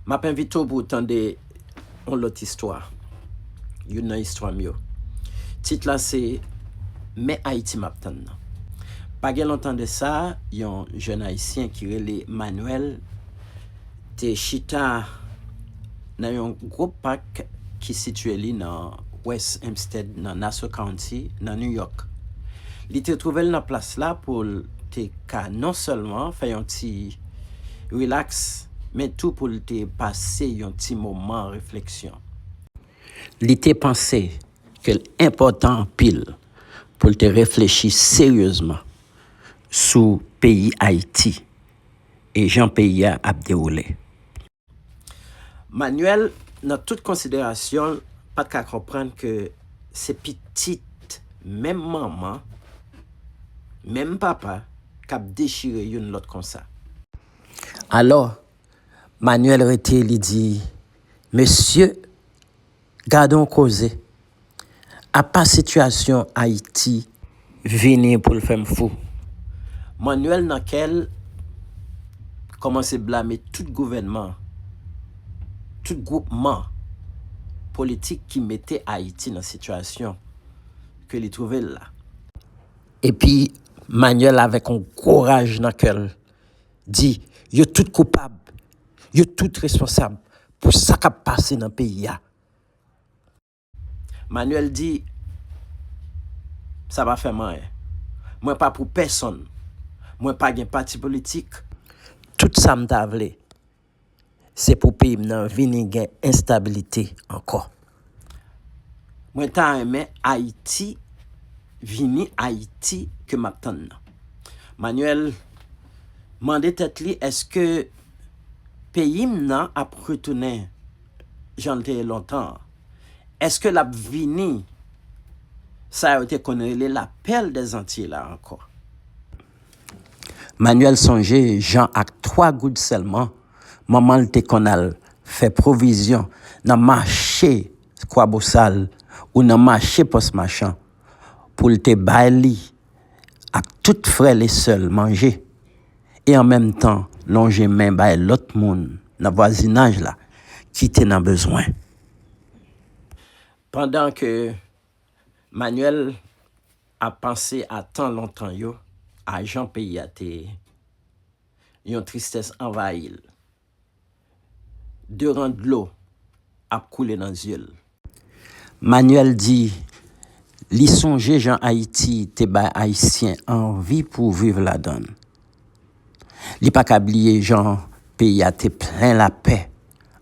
M ap envite w pou w tande yon lòt istwa, youn nan istwa m yo. Tit la se Men Ayiti m ap tann nan. Pa gen lontan de sa, yon jèn Ayisyen ki rele Manuel te chita nan yon gwo pak ki sitiye li nan West Hempstead, nan Nassau County, nan New York. Li te twouve l nan plas la pou l te ka non sèlman fè yon ti. rilaks, men tou pou l te pase yon ti moman refleksyon. Li te panse ke l enpòtan anpil pou l te reflechi seryezman sou peyi Ayiti e jan peyi a ap dewoule. Manuel nan tout konsiderasyon l pat ka konprann ke se pitit menm manman, menm papa k ap dechire youn lòt konsa. Alò, Manuel rete li di, Mesye! Gadon koze. Apa sitiyasyon Ayiti. Vini pou l fè m fou. Manuel nan kè l kòmanse blame tout gouvènman, tout gwoupman politik ki mete Ayiti nan sitiyasyon ke li twouve l la. Epi Manuel avèk yon gwo raj nan kè l di yo tout koupab, yo tout responsab pou sa kap pase nan peyi a. Manuel di, Sa pa fè m anyen. Mwen pa pou pèsonn. Mwen pa gen pati politik. Tout sa m ta vle. Se pou peyi m nan vini gen enstabilite ankò. Mwen ta renmen Ayiti vini Ayiti ke m ap tann nan. Manuel mande tèt li èske peyi m nan ap retounen jan l te ye lontan an? Èske l ap vini sa yo te konn rele la perle des Antilles la ankò? Manyèl sonje jan ak twa goud sèlman, manman l te konn al fè pwovizyon nan mache Kwabosal ou nan mache Pòs Machan pou l te bay li ak tout frè l e sè l manje e an menm tan lonje men bay lòt moun nan vwazinaj la ki te nan bezwen. Pandan ke Manyèl A panse a tan lontan yo, a jan peyi a te ye, yon tristès anvayi l. De ran dlo ap koule nan zye l. Manuel di li sonje jan Ayiti te bay Ayisyen anvi pou viv ladan l. Li pa ka bliye jan peyi a te plen lapè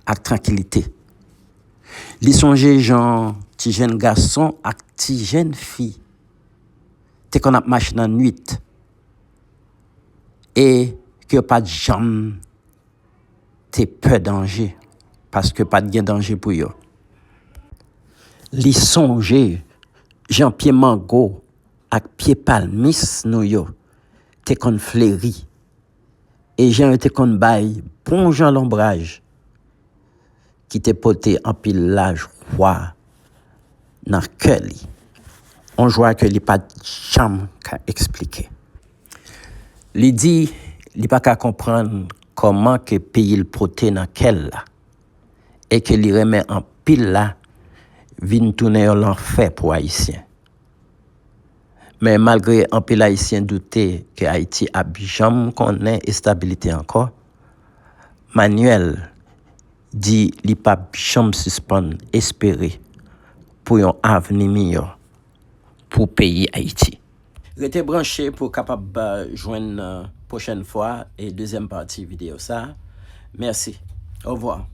ak trankilite. Li sonje jan ti jenn gason ak ti jenn fi te konn ap mache nan nuit e ke yo pa t janm te pè danje paske pa t gen danje pou yo. Li sonje jan pye mango. ak pye palmis nou yo te konn fleri, e jan yo te konn bay bonjan lonbraj ki te pote anpil lajwa nan kè li, yon jwa ke li pa t janm ka esplike. Li di li pa ka konprann kòman ke peyi l pote nan kè l la, e ke li renmen anpil la, vin tounen yon lanfè pou Ayisyen. Men malgre anpil ayisyen doute ke Ayiti ap janm konnen estabilite ankò, Manuel di li pap janm sispann espere pou yon avni miyò pou peyi Ayiti. Rete branche pou w kapab jwenn pwochèn fwa e dezyèm pati videyo sa. Mèsi. Ovwa.